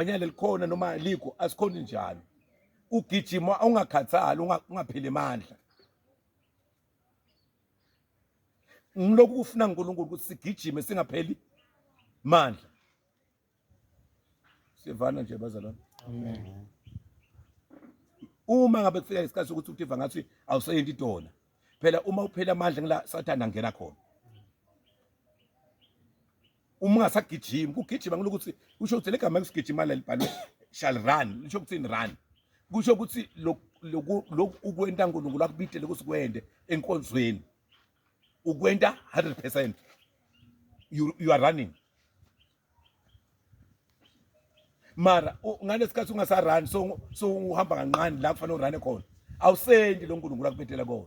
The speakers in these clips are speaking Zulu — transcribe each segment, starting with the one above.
Banyana likhona noma likho asikhona njalo. Ugijima ungakhathali ungapheli amandla. Ngilokhu kufuna uNkulunkulu ukuthi sigijime singapheli mandla. Sivana nje bazalwane. Amen. Uma ngabe kufika isikhathi sokuthi uTifa ngathi awuseyendi idona. Phela uma uphela amandla ngila sathana ngena khona. uma ungasagijimi kugijima ngilo ukuthi kusho ukuthi legama kusigijima lalibhalwe shall run lisho ukuthi run kusho ukuthi lokhu lokhu ukwenta uNkulunkulu akubidele ukuthi kwende enkonzweni ukwenta 100% you, you are running mara ngalesikhathi ungasarani so so uhamba kancane la kufanele urane khona awusendi lo nkulunkulu akubetela kona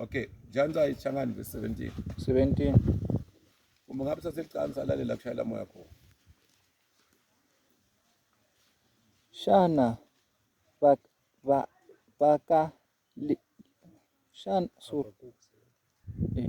Okay, janza ichangani verse 17. 17. Uma ngabe saselicansa lalela kushayela moya khona. Shana bak ba baka li, shana so. Eh.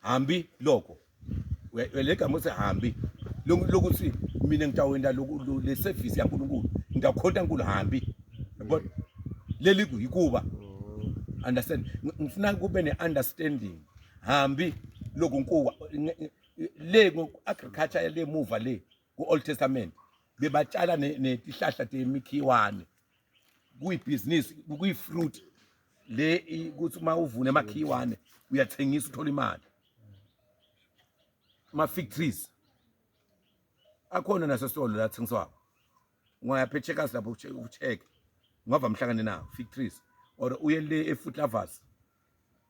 hambi loko uyalegama uthi hambi lokuthi mina ngitawenda le service yaNkulunkulu ngitawukhonta nkulu hambi yabona leli kuyikuba understand ngifuna kube ne-understanding hambi loku nkuwa le agriculture le muva le ku-old testament bebatshala netihlahla temikhiwane kuyibhizinisi kuyifruit le ukuthi uma uvune emakhiwane uyathengisa uthola imali ama-factories akhona nasesitolo la thengiswako ungaya phechekas lapho ucheck ungava mhlangane nawo factories or uye le e-food lovers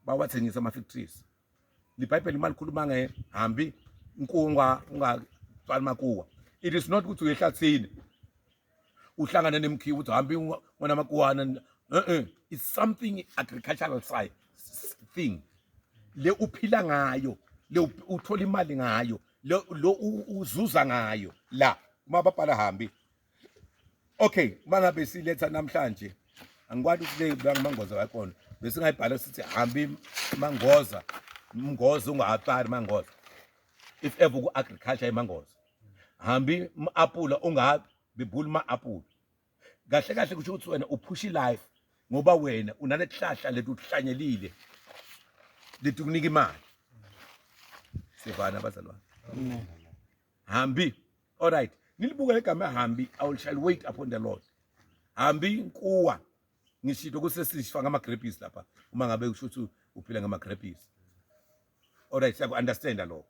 bawathengisa ama-factories libhayibheli uma likhuluma nge hambi inkuwa ungaqali makuwa it is not ukuthi uyehlathini uhlangane nemkhiwa uthi hambi wena makuwana eh it's something agricultural side thing le uphila ngayo le uthola imali ngayo lo uzuza ngayo la uma babhala hambi okay mangabe siletha namhlanje angikwani ukuthi le mangoza wakhona besingayibhala sithi hambi mangoza mngoza ungahapari mangoza if ever ku-agriculture imangoza hambi ma-apula ungabi bebhuli ma-apula kahle kahle kusho ukuthi wena uphusha ilife ngoba wena unalesihlahla leti uhlanyelile leti kunika imali sivana abazalwane hambi all right nilibuka legama hambi i will shall wait upon the lord hambi inkuwa ngishito kusesishifa ngama-grapes lapha uma ngabe usho ukuthi uphila ngama-grapes alright siyaku understand lokho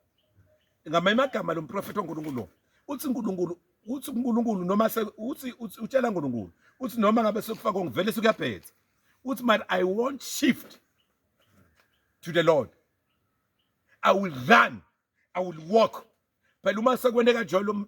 ngama imagama lomprofeti oNkulunkulu lo uthi uNkulunkulu uthi uNkulunkulu noma se uthi utshela uNkulunkulu uthi noma ngabe sekufaka ngivele sekuyabhetha uthi man i won't shift to the lord i will run i will walk phela uma sekwene kanjalo